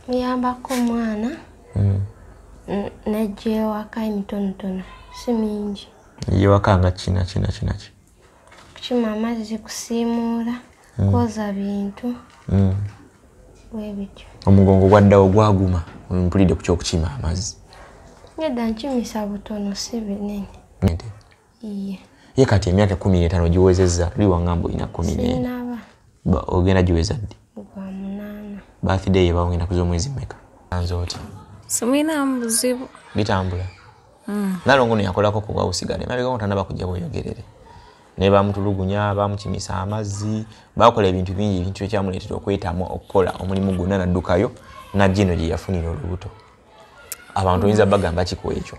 muyambako omwana hmm. najja ewaka emitonotono si mingi yewaka nga kinakinakinaki kukima amazzi kusiimuula hmm. kwoza bintu hmm. webityo omugongo gwaddawo gwaguma mpulidde ku kyokukima amazzi nedda nkimisa butono si binene ye kati emyaka kumi n'etaano giwezezza luli wangamba olina kumi n'ena ogenda giweza ddi birthday ye bawogenda kuza omwezi meka anze otya simwinamu buzibu bitambula hmm. nalongo no yakolako kuba usigale mabega ngo tanaba kujja bweyogerere naye bamutulugunya bamukimisa amazzi bakola ebintu bingi ebintu ekyamuleetera okwetamwa okukola omulimu gwonna naddukayo najino gye yafunira olubuto abantu oyinza bagamba kiku ekyo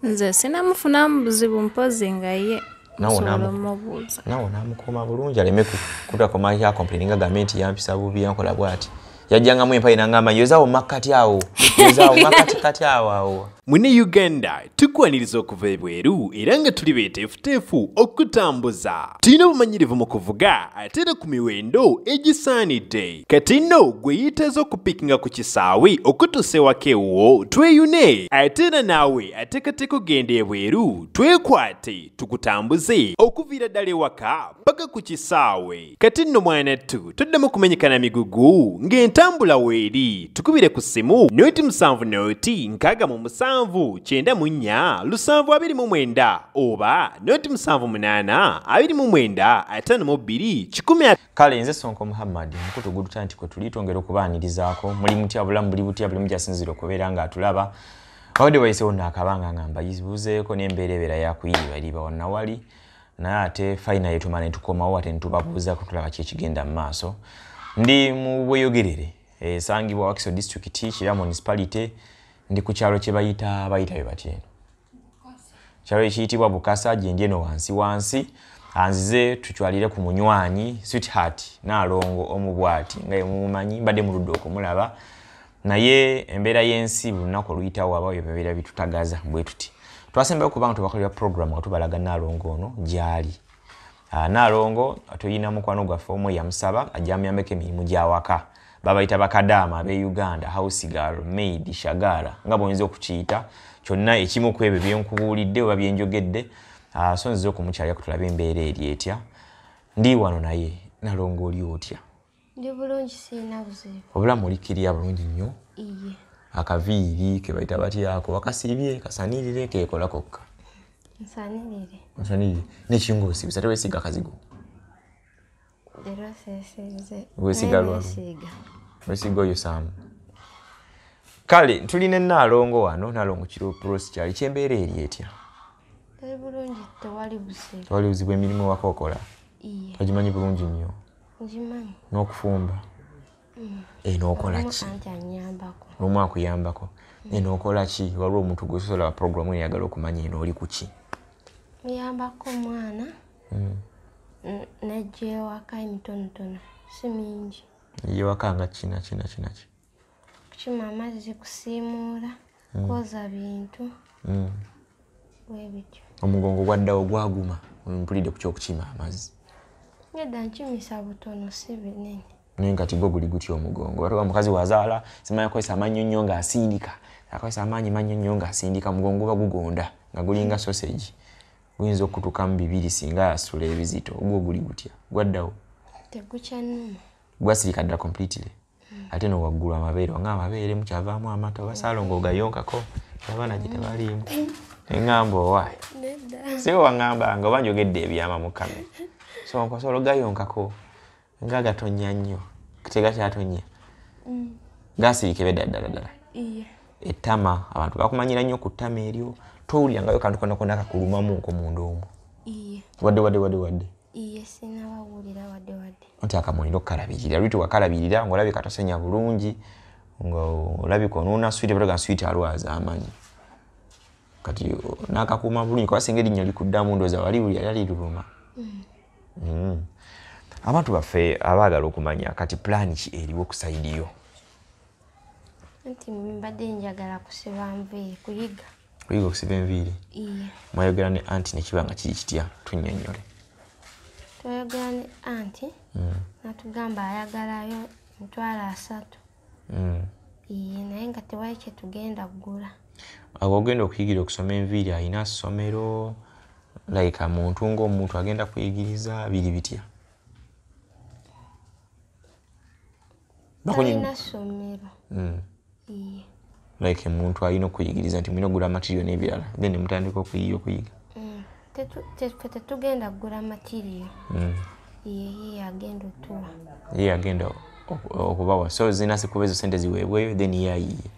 nze sinamufunamu buzibu mpozi nga ye nawe namukoma bulungi aleme kutakomakomplininga gambe nti yampisa bubi yankola bwati yajjangamu empayi nangamba yozawo makkati awo yozawo makkati kati awo awo mune uganda tukwaniriza okuva ebweru era nga tuli beteefuteefu okutambuza tulina obumanyirivu mu kuvuga ate era ku miwendo egisaanidde kati nno gwe yiteeza okupikinga ku kisaawe okutuusa ewaka ewuwo tweyune ate era naawe ateekateeka okugenda ebweru twekwate tukutambuze okuviira ddala ewaka paka ku kisaawe kati nno mwana ttu toddamu kumenyekana migugu ng'entambula weeri tukubire ku ssimu noti musanvu noti nkaaga mu musanvu kyenda mu nnya lusanvu abiri mu mwenda oba noti musanvu munaana abiri mu mwenda ataano mu bbiri kikumi kale nze sonko muhammad mukutu guduta nti kwetuli twongera okubaanirizaako muli mutya bulamu buli butya buli mujasinzira okubeera ngaatulaba wabadde wayisewo naakabanga nga mbayibuzeeko nembeera ebeera yakuyiiba eriba wanawali naye ate fayina yetumala netukomawo ate netubabuuza kutulaba ki ekigenda mu maaso ndi mu bweyogerere esangibwa wakiso district kira municipality ndi ku kyalo kyebayita bayita bye batyeno kyalo ekiyitibwa bukasa gyendi eno wansi wansi anzize tucwalire ku munywanyi sweetheart naalongo omu bwati nga yemumumanyi mbadde muludde okumulaba naye embeera y'ensi buli lunaku oluyitawo aba ebyo bibeera bitutagaza bwe tuti twasembayo kubanga tubakolera program nga tubalaga naalongo ono gyali Ah, Nalongo tuyina mukwano gwaffe omu eyamusaba ajja amuyambeko emirimu gyawaka babayita bakadaama abe Uganda house girl maid shagara nga bwoyinza okukiyita kyonna ekimu ku ebyo byenkubuulidde oba byenjogedde ah, so nziza okumukyalira kutulabe embeera eri etya ndi wano naye nalongo oli otya Ndi bulungi sirina buzibu. Wabula muli kiriya bulungi nnyo. Iye. Akaviiri ke bayita batya ako wakasiibye kasanirire keekola kokka. Nsanirire. Nsanirire. N'ekinga osiibisa tewesiiga kazigo. Leero seesiize. Wesiiga lwa. Wesiiga. Wesiiga oyo saamu. Kale tulina ennaalongo wano nnaalongo kiro prosi kyali kyembeera eri etya? Tewali buzibu emirimu wakookola? Iye. Ogimanyi bulungi nnyo. n'okufumba mm. eno eh, okola ki lumu akuyambako mm. eno eh, okola ki waliwo omuntu gwesolaba programu eyagala okumanya eno oli ku ki muyambako omwana mm. nejja ewaka emitonotono si mingi eyewaka nga kinakinakinakinaki kukima amazzi kusiimuula mm. kwoza bintu mm. webityo omugongo gwaddawo gwaguma mpulidde ku kyokukima amazzi nedda nkimisa butono si binene naye nga kigo guli gutya omugongo atoka mukazi wazaala simanya akozesa amannyo nnyo ng'asindika akozesa amaanyi mannyo nnyo ng'asindika mugongo guba gugonda nga gulinga sosegi guyinza okutukamu bibiri singa asula ebizito ogwo guli gutya gwaddawo tegukyanuma gwasirika dda completely ate no waggulu amabeere nga amabeere mukyavaamu amata oba saalongo ogayonkako abaana gye tebaliimu eŋŋamba owaayi sibe waŋŋambanga oba njogedde ebyama mukame so nkosola ogayonkako nga gatonya nnyo tegakyatonnya mm. gasirike bedda ddala ddala ettama abantu bakumanyira nnyo ku ttama eryo towulirangayo kantu konakonakakulumamu nkomunda omu wadde wadde wadde wadde Iye sinaba wulira wadde wadde. Nti akamulina okukalabirira lwiti wakalabirira ng'olabika tosenya bulungi ng'olabika onuuna switi bataga switi alwaza amanyi kati n'akakuuma bulungi kuba singa erinnya likuddamu ndooza wali wuli yali aliruluma mm. mm. abantu baffe abaagala okumanya kati pulaani ki eriwo ku saidi yo nti mbadde njagala kusiba nviiri kuyiga kuyiga okusiba enviiri mwayogera ne anti nekiba nga kiri kitya tunyonyole twayogera ne anti hmm. natugamba ayagalayo mitwalo asatu hmm. iye naye nga tewali kyetugenda kugula awo ogenda okuyigira okusoma enviiri alina somero like muntu ngaomuntu agenda kuyigiriza biri bitya hmm. like omuntu alina okuyigiriza nti mulina okugula amatirio n'ebirala then mutandika okuyiya okuyiga hmm. fe tetugenda kugula amatirio hmm. yeye agenda otuwa yeye agenda okubawa so zirina sikuba ezo sente ziweebweyo then ye ayiye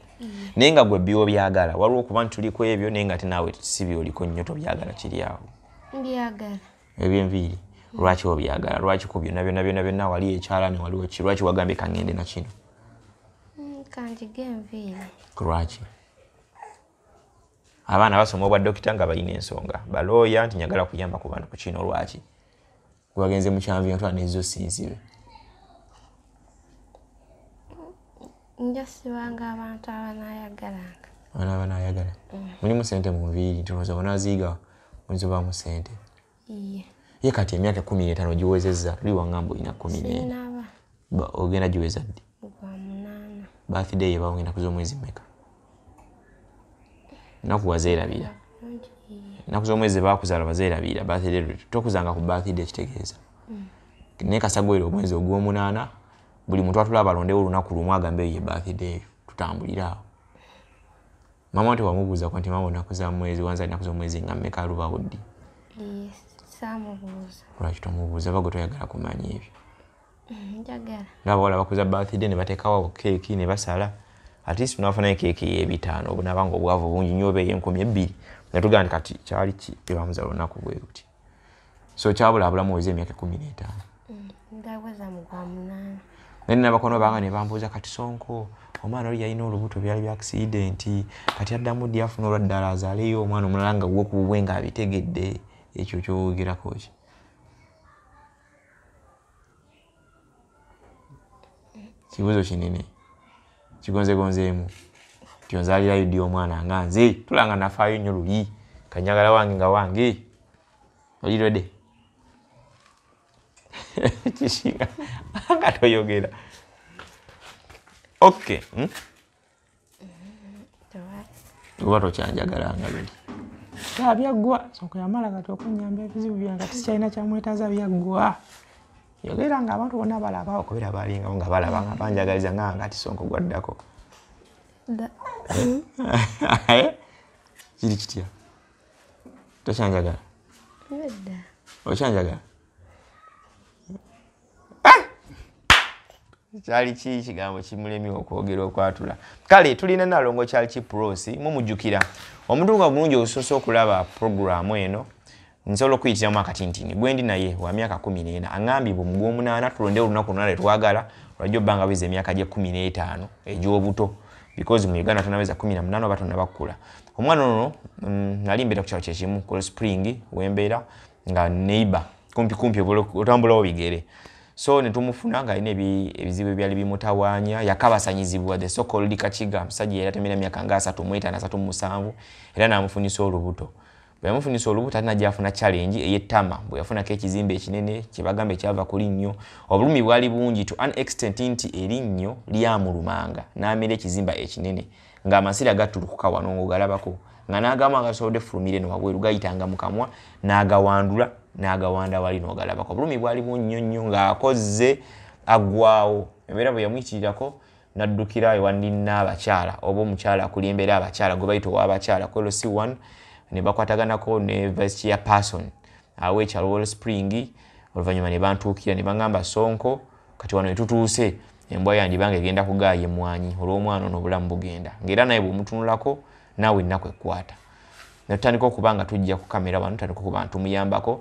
naye nga gwe biwo byagala waliwo okuba nti tuliko ebyo naye nga ate naawe si byoliko nnyo tobyagala kiri awo mbyagala ebyenviiri lwaki obyagala lwaki ku byona byona byona byona wali ekyalani waliwo ki lwaki wagambye kangende nakino mm, kanjige enviiri lwaki abaana basoma obwa dokita nga balina ensonga balooya nti nyagala kuyamba ku bantu ku kino lwaki gwebagenze mukyanvi nga twa nezo sinzibe njasibanga abantu abanayagalanga abana abanayagala mm. mulimu sente mu nviiri nti oza onaziigawo oyinza obaamu sente ye kati emyaka ekumi n'etaano giwezezza luli wangamba olina kumi n'ena ogenda giweza ddi bathday ye bawogenda kuza omwezi meka naku wazeerabira naku z'omwezi bakuzaala wazeerabira bathday tokuzanga ku bathday ekitegeeza mm. naye kasagwere omwezi ogw'omunaana buli muntu atula abalondewo olunaku lumu agambe eyo ye bathday eyo tutambulire awo Mama wante wamubuuza ko nti mama onaku za mwezi wanza naku zomwezi nga mmeka luba wuddi? Yes, samubuuza. Lwaki tomubuuza bago toyagala kumanya ebyo. Mm, njagala. Nabo wala bakuza birthday ne batekawo keeki ne basala. At least tunafunayo keeki ey'ebitaano obunaba nga obwavu bungi nnyo oba ey'enkumi ebbiri nga tugamba kati kyali ki ebamuza lunaku bwe luti. so kyabula abulamu weza emyaka ekumi n'etaano mm, naye nabakono banga nebambuuza kati sonko omwana oli yalina olubuto byali bya akisidenti kati addamu ddi afuna olwa ddala azaaleyo omwana omulala nga gwe kububwe nga abitegedde ekyo kyowogerako ki kibuzo kinene kigonzegonzeemu tyonzalira yudi omwana nga nze tulanga nafaayo nnyo luli kanyagala wange nga wange olirede kisinga nga toyogera okay hmm? oba tokyanjagala nga biri taa byaggwa soka yamala kati okunyamba ebizibu byange ati sikyalina kyamwetaaza byaggwa yogera nga abantu bonna balaba okubera balingawo nga balaba nga banjagaliza nga ngati sonko gwaddako eh? kiri kitya tokyanjagala okyanjagala kyali ki kigambo kimulemi okwogera okwatula kale tulina nalongo kyali ki prosi mumujjukira omuntu nga bulungi obusoose okulaba programu eno nsobola okuyitiramu akatintini gwendi naye wa myaka kumi n'ena aŋambye bwe mugwomunaana tulonde olunaku luna lwetwagala olwajja obba nga weza emyaka gye kumi n'etaano egy'obuto because mu uganda tonaweza kumi na munaana oba tonabakkula omwana ono mm, nali mbeera ku kyalo kyekimu kol spring wembeera nga neighbor kumpi kumpi otambulawo bigere so netumufuna nga alina ebizibu ebyali bimutawanya yakabasanyizibwa the so called kakiga musajja yali atemera myaka nga asatu mwetana asatu mumusanvu era namufunisa olubuto bweyamufunisa olubuto ate najafuna challenge eyetama bweyafunako ekizimbe ekinene kyebagamba ekyava kuli nnyo obulumi bwali bungi to an extent nti erinnyo lyamulumanga namera ekizimba ekinene nga amasira gatulukuka wano ngaogalabako nga n'agamu agasobodde fulumire no wabweru gayitanga mu kamwa n'agawandula n'agawanda wali n'ogalabako obulumi bwali bunnyo nnyo ng'akozze aggwawo embeera bwe yamuyitirirako n'addukira ewa ninna abakyala oba omukyala akuli embeera abakyala gwe bayita ow'abakyala kwelo si one ne bakwataganako ne vice chair person aweekyalo wall spring oluvannyuma ne bantuukira ne baŋŋamba sonko kati wano wetutuuse embwa yandibanga egenda kugaaya emwanyi olw'omwana ono obulamu bugenda ngaera naye bwemutunulako naawe ennaku ekkwata netutandika okuba nga tujja ku kamera wano tutandika okuba nga tumuyambako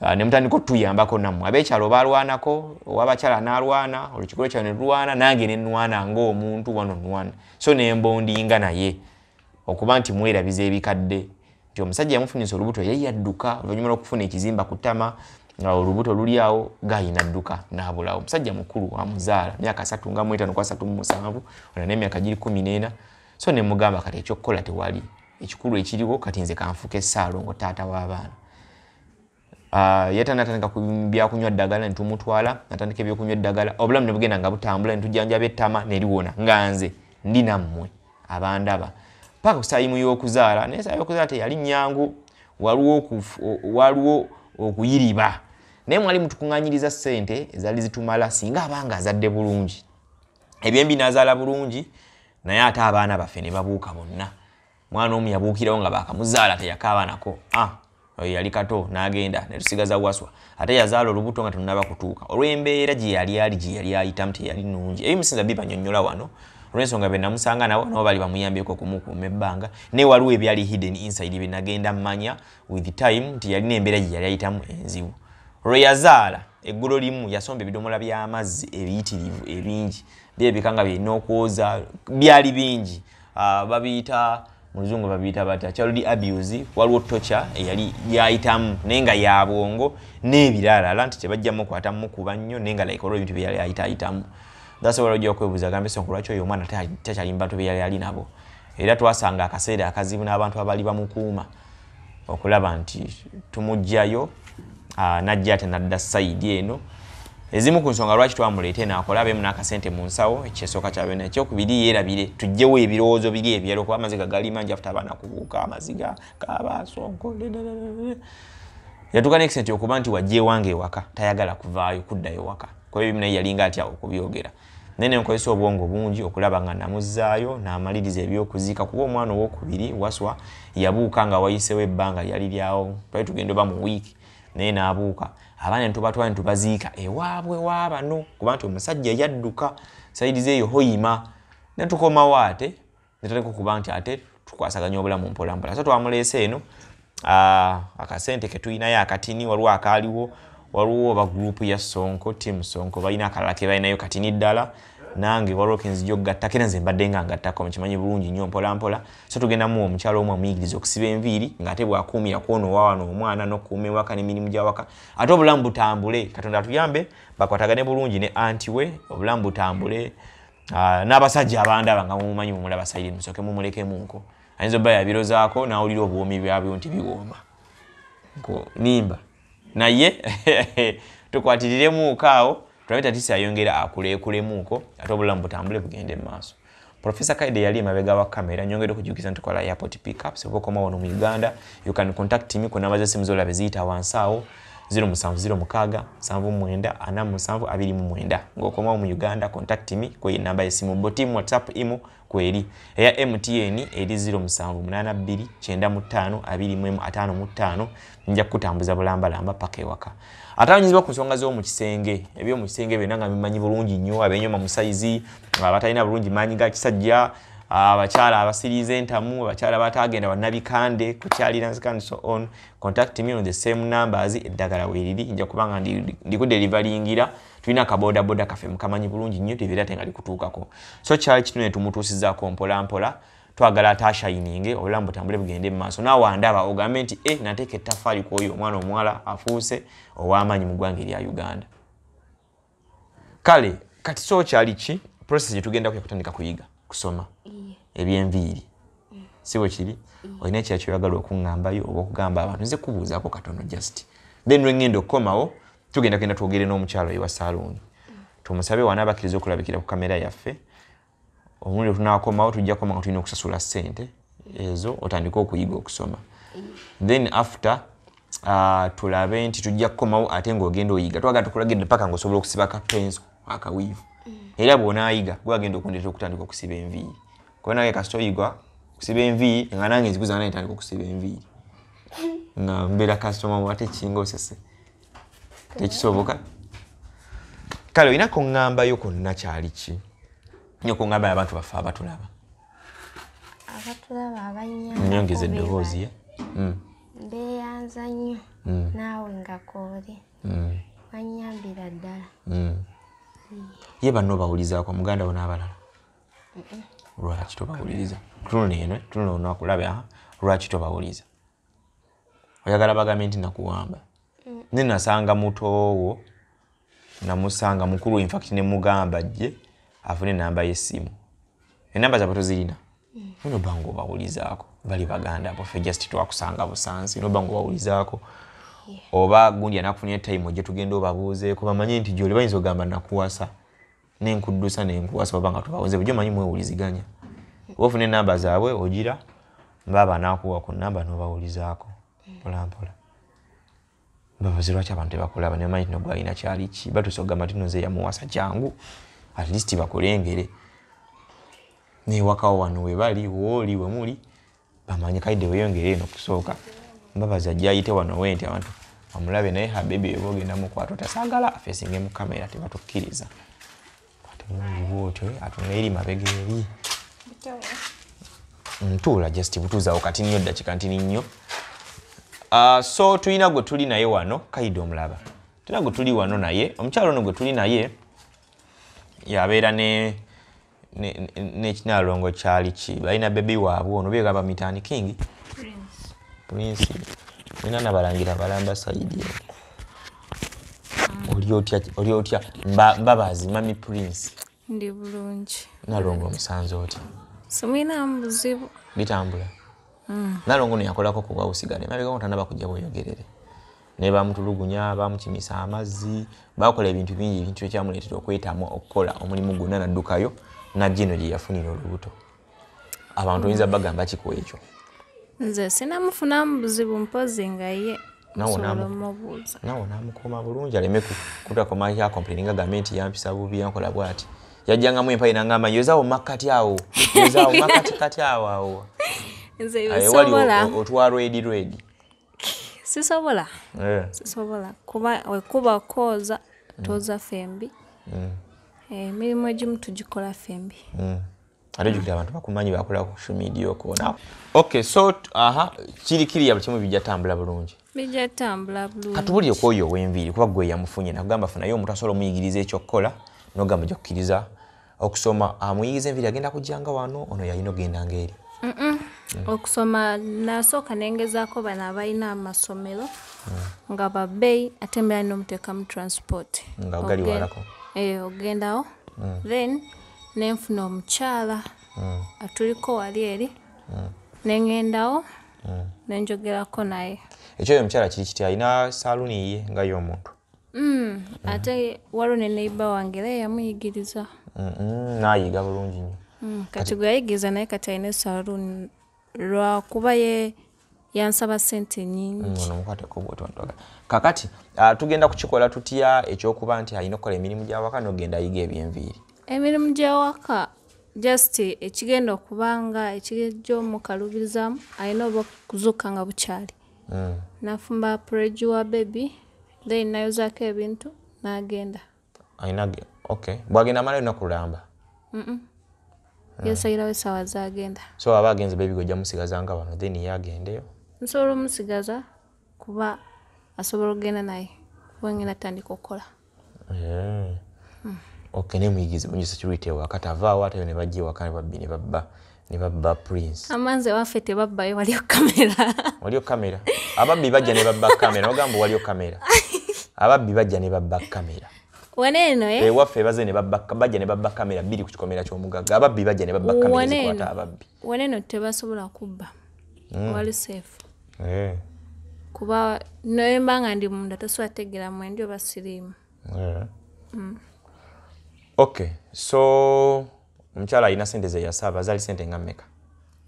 ah, nemutandika otuyambako nammwe abekyalo balwanako owabakyala nalwana olukikolo kyalo nelulwana nange nenwana ngaomuntu one on one so nembondinga naye okuba nti mwerabiza ebikadde nti omusajja yamufunyisa olubuto yali yadduka oluvannyuma lw'okufuna ekizimba ku ttama nga olubuto luli awo gayi nadduka n'abulawo omusajja mukulu amuzaala myaka asatu nga mwetano ku asatu mu musanvu ona n'emyaka giri kumi n'ena so ne mugamba kati ekyokukola tewali ekikulu ekiriwo kati nze kanfuuka esaalongo taata w'abaana Ah, yeta natandika byakunywa ddagala netumutwala natandika ebyokunywa eddagala obulamu nebugenda nga butambula netujanjaba ettama neliwona nga nze ndi nammwe abandaba paka kusayimu yokuzaala naye sayimu yokuzaala teyali nyangu waliwo okuyiriba naye mwali mutukunganyiriza sente ezali zitumala singa abanga azadde bulungi ebyembi nazaala bulungi naye ate abaana baffe nebabuuka bonna mwana omu yabuukirawo nga baakamuzaala teyakaabanako a ah, oyo yali kato n'agenda ne tusigaza waswa ate yazaala olubuto nga tunaba kutuuka olw'embeera gye yali ali gye yali ayitamu teyali nnungi ebimusinza bibanyonnyola wano olw'ensonga be namusanga nabo nabo bali bamuyambyeko okumukuuma ebbanga naye waliwo ebyali hidden inside bye nagenda mmanya with time nti yalina embeera gye yali ayitamu enzibu olwe yazaala eggulo limu yasomba ebidomola by'amazzi ebiyitirivu ebingi byebika nga byerina okwoza byali bingi uh, babiyita muluzungu babiyita batya child abuse waliwo tocha eyali yayitamu naye nga yabwongo nebiralala nti tebajja mukwata mukuba nnyo naye nga like olwo ebintu byeyali ayitayitamu thats wala ojja okwebuuza gambe sonko lwaki oyo omwana takyali mu bantu beyali ali nabo era twasanga akaseera akazibu n'abantu abali bamukuuma okulaba nti tumugjayo ah, najja ate nadda saidi eno ezimu ku nsonga lwaki twamuleeta eno akole abeemu n'akasente mu nsawo ekyesooka kyabyona ekyokubiri yeerabire tugjewo ebirowoozo biri ebyalo kuba amaziga gali mangi afuta abaana kubuuka amaziga kabasonko yatuuka nekisente okuba nti wajja ewange ewaka tayagala kuvaayo kuddayo waka kuba ebimu naye yalinga atya okubyogera naye ne nkozesa obwongo bungi okulaba nga namuzzaayo n'amaliriza eby'okuziika kuba omwana owokubiri waswa yabuuka nga wayisewo ebbanga lyali lyawo twali tugenda oba mu wiiki naye n'abuuka abaana netubatwala netubaziika ewaabwe waabano kuba nti omusajja yadduka saidi zeeyo hoyima netukomawo ate netandika okuba nti ate tukwasaganya obulamu mpolampola so twamuleese eno ah, akasente ketulinayo akatini waliwo akaaliwo waliwo oba gurupu ya sonko tiamu sonko balina akalala kebalinayo katini ddala nange waliwo kenzija okugatta kera nze mbadde nga ngattako mukimanyi bulungi nnyo mpolampola so tugendamu omukyalo omu amuyigiriza okusiba enviiri ngaate bwakuumira kwona owawano omwana nokuuma ewaka nemirimu gyawaka ate obulamu butambule katonda atuyambe bakwatagane bulungi ne anti we obulamu butambule Ah, n'abasajja abandaba nga mumumanyi mumulaba sayiri musoke mumulekemunko ayinza obba yabirozaako n'awulira obuwoomi byabyo nti biwooma nimba naye tukwatiriremuuko awo tulabe tatisi ayongera akuleekulemuuko ate obulamu butambule bugende mu maaso profesa kaide yali emabega wa kamera nyongere okujukiza nti kola airport pickups oba okomawo no mu uganda you can contact me kunamba zesimu zolabe ziyita wansi awo 0 musanvu 0 mukaaga nsanvu mwenda ana musanvu abiri mu mwenda ng'okomawo mu uganda contact me kweyo enamba y'essimu bo tiimu whatsapp imu kweri eya mtn eri 0 musanvu munaana bbiri kyenda mu ttaano abiri mu emu ataano mu ttaano nja kukutambuza bulambalamba paka ewaka atawanyizibwa ku nsonga z'omu kisenge eby'omu kisenge byonna nga bimanyi bulungi nnyo abenyoma musayizi abatalina bulungi maanyi ga kisajja abakyala abasiriiza entamu abakyala bataagenda bannabikande kukyalira nzikani so on contact me on the same numbers eddagala weriri nja kubanga ndikudelivalingira tulina kabodaboda kaffe mukamanyi bulungi nnyo tebeera te nga likutuukako so kyali kitune tumutuusizako mpolampola twagala atashayininge obulamu butambule bugende mu maaso naawe andaba ogambe nti e eh, nateeka ettafaali kwoyo omwana omuwala afuuse ow'amaanyi mu ggwanga erya uganda kale kati so kyali ki process gyetugenda kuya kutandika kuyiga kusoma ebyenviiri mm. si bwe kiri mm. olina ekira kyoyagala okuŋŋambayo oba okugamba abantu nze kubuuzaako katono just then lwengenda okukomawo tugenda kugenda twogere n'omukyalo ewa saluuni mm. tumusabe waana abakiriza okulabikira ku kamera yaffe omulundi wetunakomawo tujja koma nga tulina okusasula sente ezo otandike okuyiga okusoma then after uh, tulabe nti tujja kukomawo ate ngaogenda oyiga twagala tukulagende paka nga osobola okusiba kapenso akawiivu mm. era bwonayiga gwagenda okundetera okutandika okusiba enviiri kuba nange kasita oyigwa okusiba enviiri nga nange nzikuza nange tandika okusiba enviiri nga mbeera kasitoma wate kinga osese tekisoboka kale olina kuŋŋambayo konna kyali ki nyo kuŋŋambayo abantu baffe abatulaba abatulaba abanyongeza eddoboozi ye hmm. beeyanza nnyo hmm. naawe nga kooli hmm. banyambira ddala ye banno bawulizaako muganda wo n'abalala lwaki tobawuliriza tunula eno tunula onakulaba lwaki tobawuliriza oyagala bagambye nti nakuwamba mm. ne nasanga mutoowo namusanga mukulu infact ne mugamba jje afune enamba yesimu enamba zabwe tozirina mm. noba nga obawulizaako bali baganda bofe just twakusanga busansi noba nga obawulizaako oba gundi anakufunira time ojje tugenda obabuuzeeko bamanye nti gyoli bayinza ogamba nakuwasa nenkuddusa nenkuwasa oba nga tubawoze bujo manyi mwewuliziganya oba ofuna enamba zaabwe ogira baaba nakuwa ku namba nobawulizaako mpolampola babaze lwaki abantu tebakulaba nebamanyi tino gwalina kyali ki batusa okugamba tino nze yamuwasa kyangu at least bakulengere newakawo wano webali wooli wemuli bamanyi kaide weyongere eno kusooka mbabazi ajja ayite wano wenti abantu amulabe naye habibi weba ogenda mukwata otasagala afesinge mu kamera tebatukkiriza atemulibwotyo atunga eri mabega eri ntuula just butuuzawo kati nnyo ddakika ntini nnyo ah, so tulina gwe tuli naye wano kaide omulaba tulina gwe tuli wano naye omukyalo ono gwe tuli naye yabeera ne nekinalongo kyali ki balina bebi waabwe ono bega bamitani king prince nina nabalangira balamba saidi oli otya mbabazi mami prince ndi bulungi nalongo omusanze otya simwinamu buzibu bitambula mm. nalongo neyakolako kuba usigale mabega otanaba kujja bweyogerere naye bamutulugunya bamukimisa amazzi bakola ebintu bingi ebintu ekyamuleetera okwetamwa okukola omulimu gwonna naddukayo najja eno gye yafunira olubuto abantu oyinza bagamba kiku ekyo nze sinamufunamu buzibu mpozi nga ye nawe namukuma bulungi aleme kutakomakompleninga gambe nti yampisa bubi yankola bwati yajjangamu empayi nangamba yozawo makkati awo yozawo makkatikati awo awo ewali otwa rwedi rwedi sisobola eh. sisobola kuba wekuba kooza mm. toza fembi mm. eh, emirimu egimu tugikola fembi mm. ate jukira abantu bakumanyi bakola ku social media okona okay so aha kiri kiri yabukimu bijja tambula bulungi bijja tambula bulungi katubuli okwoyo wenviri kuba gwe yamufunye nakugamba funayo omuntu asobola omuyigiriza ekyokukola nogamba jokukiriza okusoma amuyiyiza enviri agenda kujjanga wano ono yalina okugenda ngaeri mm. okusoma nasooka nengezaako bano abalina amasomero mm. nga babeyi ate mbeera nomuteekamu transport nga ogali walako eh, ogendawo mm. then nenfuna omukyala atuliko wali eri nengendawo nenjogerako naye ekyoyo omukyala kiri kiti alina saluuni ye nga yomuntu Mm, ate waliwo ne neiba wange era yamuyigiriza nayiga bulungi nyo mm, kati gwe yayigiriza naye kati alina esaluuni lwakuba ye yansaba sente nyingimukatekobwotontoga mm, kakati ah, tugenda kukikola tutya ekyokuba nti alina okukola emirimu gyawaka nogenda ayiga ebyenviiri emirimu gyawaka just ekigenda okubanga ekigejja omukalubizamu alina oba okuzuuka nga bukyali mm. nafumba preju wa bebi then nayozako ebintu nagenda okay. bwagenda amala yona kulamba mm -mm. yesayirawo esawa zagenda so aba agenze bebi gojja musigaza nga bano then ye agendeyo nsobola omusigaza kuba asobola okugenda naye wengenda tandika okukola Eh. Hmm. Okay, ne muyigizi bunyi security wa kata va wa tayo ne bajje wa kan babbi ne babba ne babba prince. Amanze wa fete babba yo waliyo kamera. Waliyo kamera. Ababbi bajja ne babba kamera. Ogambo waliyo kamera. Ababbi bajja ne babba kamera. Waneno eh. E wafe baze ne babba bajja ne babba kamera bili ku kikomera kyo mugaga. Ababbi bajja ne babba kamera zikwata ababbi. Waneno tebasobola kubba. Mm. Wali safe. eh. kuba naye mba nga ndi munda tosobola tegera mwendi oba siriimu eh. mm. ok so omukyala alina sente zeyasaba zali sente nga meka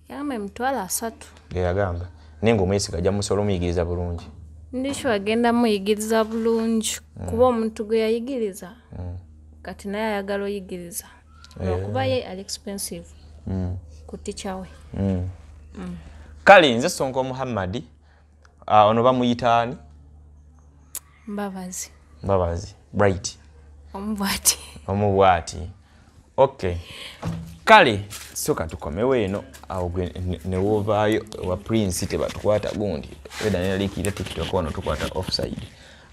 yagamba emitwalo asatu yeyagamba naye nga omwesiga ajja musobola omuyigiriza bulungi ndikyo agenda muyigiriza bulungi mm. kuba omuntu gwe yayigiriza mm. kati naye ayagala oyigiriza lwakuba eh. ye ali expensive mm. ku ticha we mm. Mm. kale nze sonko muhammadi uh, ono bamuyita ani mbabazi mbabazi bright omubwati omubwati ok kale soka tukomewo eno awo gwe newovaayo wa prince tebatukwata gundi eda neralikira tiktok ono tukwata offside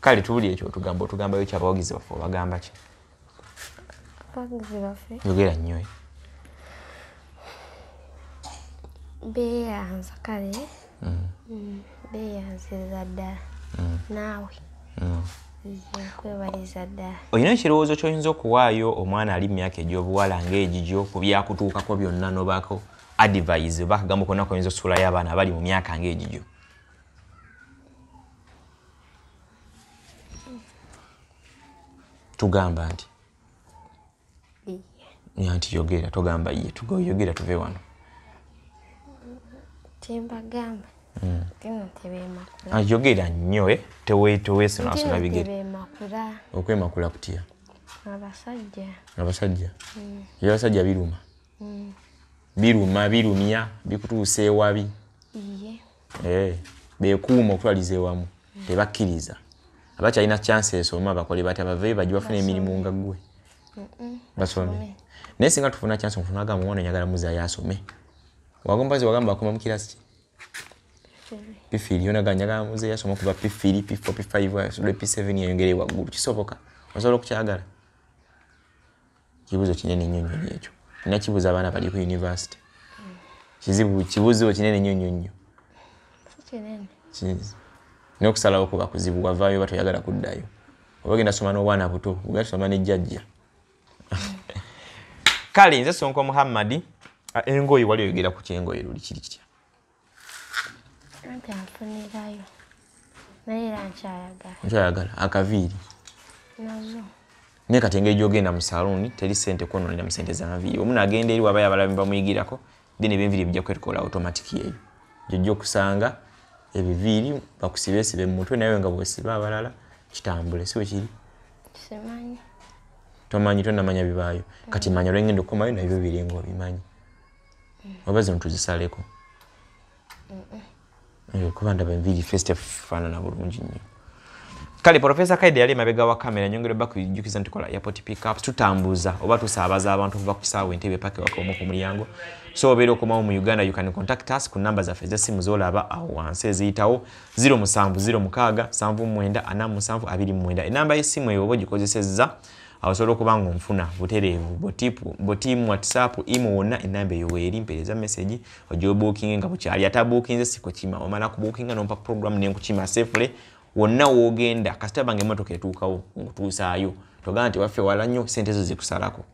kale tuwulire ekyo otugamba otugambayo ki abawagizi baffe obagamba ki yogera nnyo eh? beyanza kale mm. Mm, beyanziza ddala mm. naawe olina ekirowoozo kyoyinza okuwaayo omwana ali mu myaka egyobuwala ngaegigyo ku byakutuukako byonna nobako advise oba akagambo konna koyinza osuulayo abaana abali mu myaka ngaegigyo tugamba nti nti yogera togamba ye tugoyogera tuve wano kyembagamba hmm. ayogera ah, nnyo eh? teweesunasula bigere okwemakula kutya abasajja abasajja hmm. abasajja biruma hmm. biruma birumya bikutuusa ewabi Eh, bekuuma okutwaliza ewamu tebakkiriza abakyalina chance esoma bakole bati abavee baji bafuna emirimu nga gwe basome naye singa tufuna chance mufuna agamba omwana nyagala muzayo asome wagompazi wagamba akoma mukirasi ki pifiri yona ga nyagala muzayo asoma kuba pifiri pifo pifive asudde p7 yayongere waggulu kisoboka osobola okukyagala kibuzo kinene nnyo nnyo ekyo nina kibuza abaana bali ku univesity kizibu kibuzo kinene nnyo nnyo nnyo nokusalawo kuba kuzibu wavaayo oba toyagala kuddayo oba ogenda soma n'obwana buto ogenda tusoma ne jjajja kale nze sonko muhammadi engoye wali oyogera ku kyengoye luli kiri kitya anti anfunirayo naye era nkyayagala nkyayagala akaviiri nazo naye kati engeri gyogenda mu saluuni teri sente kwononera mu sente zanviiri omu nagenda eri wabayo abalabi bamuyigirako then ebyenviiri bijja kwetukola automatic eyo gyojja okusanga ebiviiri bakusibeesibe mu mutwe naye nga bwesiba abalala kitambule si wekiri tomanyi tonamanya bibaayo kati manya olwengenda okukomayo nabyo biringa obimanyi oba zino tuzisaleko eh, kuba ndaba enviri festa faanana bulungi nnyo kale profesa kaide yali emabega wa kamera nyongere baku jukiza ntikola airport pickups tutambuza oba tusaabaza abantu okuva ku saawa entebe pake wakomu ku mulyango so obeera okomawo mu uganda you can contact us ku namba zaffe ezessimu zolaba awo wansi eziyitawo 07 07 79 47 29 enamba y'essimu eyo oba ogikozesezza awosobola okuba nga onfuna butereevu botiimu whatsapp imo wonna enamba eyo weeri mpereza message ojobuukinge nga bukyali ate abuukinze sikukima omala kubuukinga nompa program nenkukima safely wonna wogenda kasita bange emotoka etuukawo nkutuusaayo togamba nti waffe wala nnyo sente zo zikusalako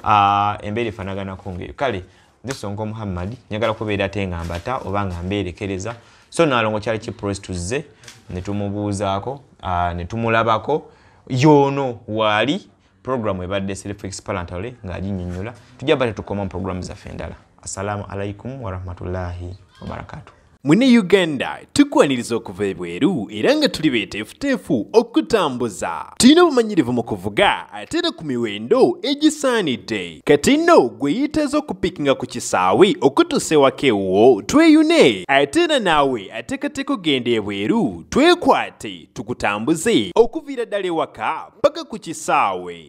ah, embeera efanaganako ngaeyo kale This songo Muhammad nyagala kubeera ate nga mbata oba nga mbeerekereza so nalongo kyali ki press tuzze ne tumubuuzaako ah, ne tumulabako yoono waali program ebadde self explanatory ng'aginnyonnyola tujja bate tukoma mu program zaffe endala assalamu alaikum warahmatullahi wabarakatuh Mune Uganda tukwaniriza okuva ebweru era nga tuli beeteefuteefu okutambuza. Tulina obumanyirivu mu kuvuga ate era ku miwendo egisaanidde. Kati nno gwe yeetaaze okupikinga ku kisaawe okutuusa ewaka ewuwo tweyune ate era naawe ateekateeka okugenda ebweru twekwate tukutambuze okuviira ddala ewaka paka ku kisaawe.